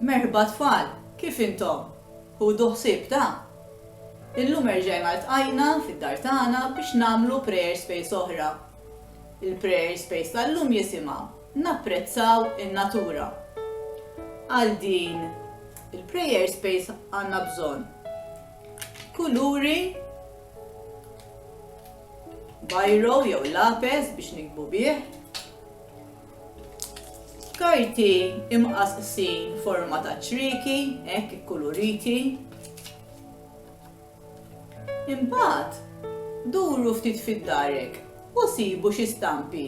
Merħba tfal, kif intom? Ħudu ħsieb ta'. Illum erġajna ltqajna fid-dar tagħna biex nagħmlu prayer space oħra. Il-prayer space tal-lum jisimha Napprezzaw in-natura. Għal din il-prayer space għandna bżonn kuluri bajro jew lapes biex nikbu bih, Karti imqasqsin forma ta' ċrieki, hekk ikkuluriti. Imbagħad, duru ftit fid-darek u sibu xi stampi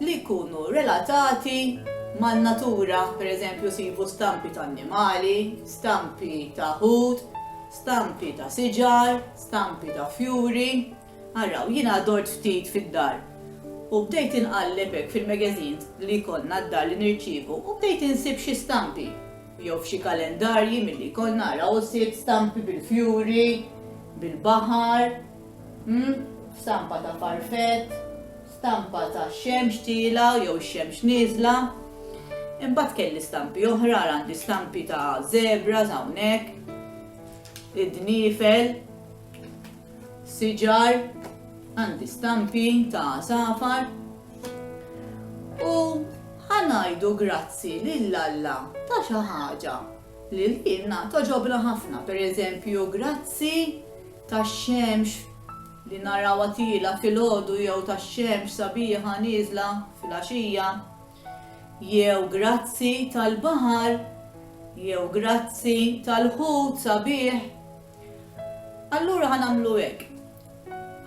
li jkunu relatati man-natura, pereżempju sibu stampi ta' annimali, stampi ta' ħut, stampi ta' siġar, stampi ta' fjuri. Araw, jiena dort ftit fid-dar u bdejt inqalleb hekk fil-magazines li jkollna d-dar li nirċievu u bdejt insib xi stampi jew f'xi kalendarji milli jkollna araw sibt stampi bil-fjuri, bil-baħar, hm, stampa ta' farfett, stampa tax-xemx tielgħa jew ix-xemx nieżla. Imbagħad kelli stampi oħra, ara għandi stampi ta' zebras hawnhekk, id-dniefel. siġar, għandi stampi ta' għasafar u ħa ngħidu grazzi lil Alla ta' xi ħaġa li lilna togħġobna ħafna, pereżempju grazzi tax-xemx li narawha tielgħa filgħodu jew tax-xemx sabiħa nieżla filgħaxija, jew grazzi tal-baħar, jew grazzi tal-ħut sabiħ. Allura ħa nagħmlu hekk,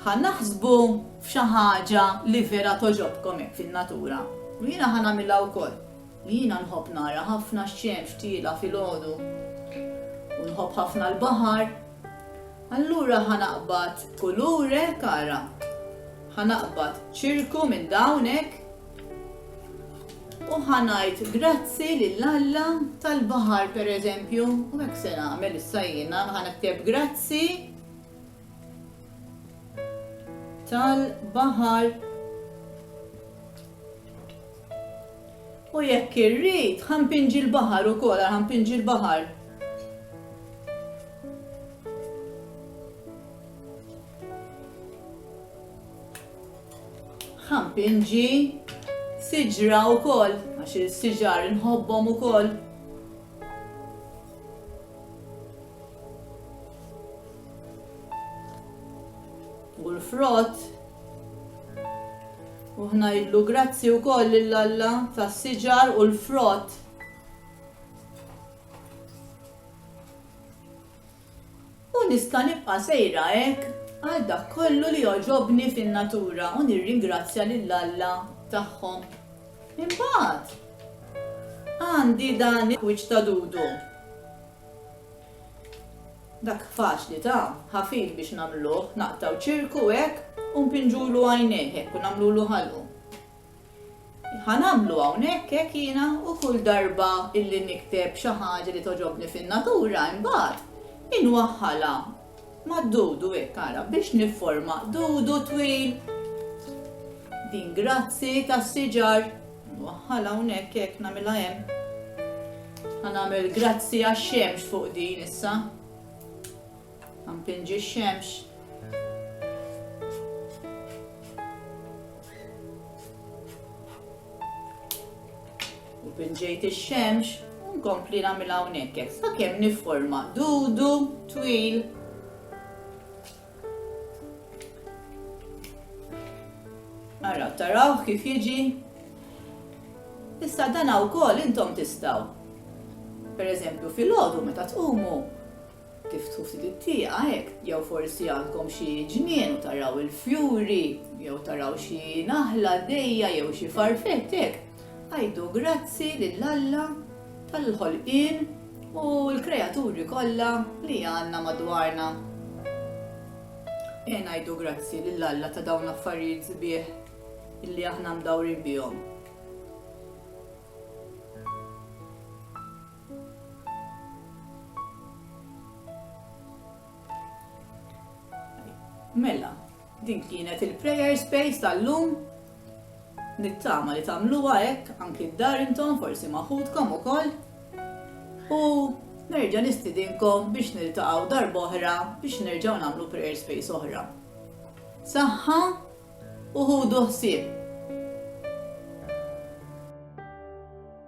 ħa naħsbu f'xi ħaġa li vera togħġobkom hekk fin-natura, u jiena ħa nagħmilha wkoll. Jiena nħobb nara ħafna x-xemx tiela' filgħodu u nħobb ħafna l-baħar. Allura ħa naqbad kulur hekk ara, ħa naqbad ċirku minn dawn hekk, U ħa ngħid grazzi lil Alla tal-baħar pereżempju, u hekk se nagħmel issa jiena ħa nikteb grazzi tal-baħar. U jekk irrid, ħampinġi l-baħar ukoll, ħampinġi l-baħar. Ħampinġi, siġra wkoll, għax is-siġar inħobbhom ukoll. U l-frott, u ħnajdlu grazzi wkoll lil Alla tas-siġar u l-frott. U nista' nibqa' sejra hekk għal dak kollu li jogħġobni fin-natura u nirringrazzja lil Alla tagħhom. Imbagħad għandi dan il-wiċċ ta' dudu. Dak faċli ta', ħafif biex nagħmluh, naqtgħu ċirku hekk u npinġulu għajnejh hekk u nagħmlulu ħalqu. Ħa nagħmlu hawnhekk hekk jiena u kull darba illi nikteb xi ħaġa li togħġobni fin-natura imbagħad inwaħħalha mad-dudu hekk ara biex nifforma dudu twil. Din grazzi tas-siġar. Nwaħħalha hawnhekk hekk nagħmilha hemm. Ħa nagħmel grazzi għax-xemx fuq din issa. Mpinġi x-xemx. U pinġejt ix-xemx u nkompli nagħmilha hawnhekk hekk sakemm nifforma dudu twil. Ara taraw kif jiġi. Issa dan wkoll intom tistgħu. Pereżempju fil-għodu meta tqumu Tiftħu ftit it-tieqa hekk, jew forsi għandkom xi ġnien u taraw il-fjuri, jew taraw xi naħla għaddejja jew xi farfett hekk, għidu grazzi lil Alla tal-ħolqien u l-kreaturi kollha li għandna madwarna. Ejja ngħidu grazzi lil Alla ta' dawn l-affarijiet sbieħ illi aħna mdawrin bihom. Mela, din kienet il-prayer space tal-lum. Nittama li tamluwa hekk anki d-dar intom forsi maħudkom ukoll. U nerġa' nistidinkom biex niltaqgħu darb'oħra biex nerġgħu nagħmlu prayer space oħra. Saħħa u ħudu ħsieb.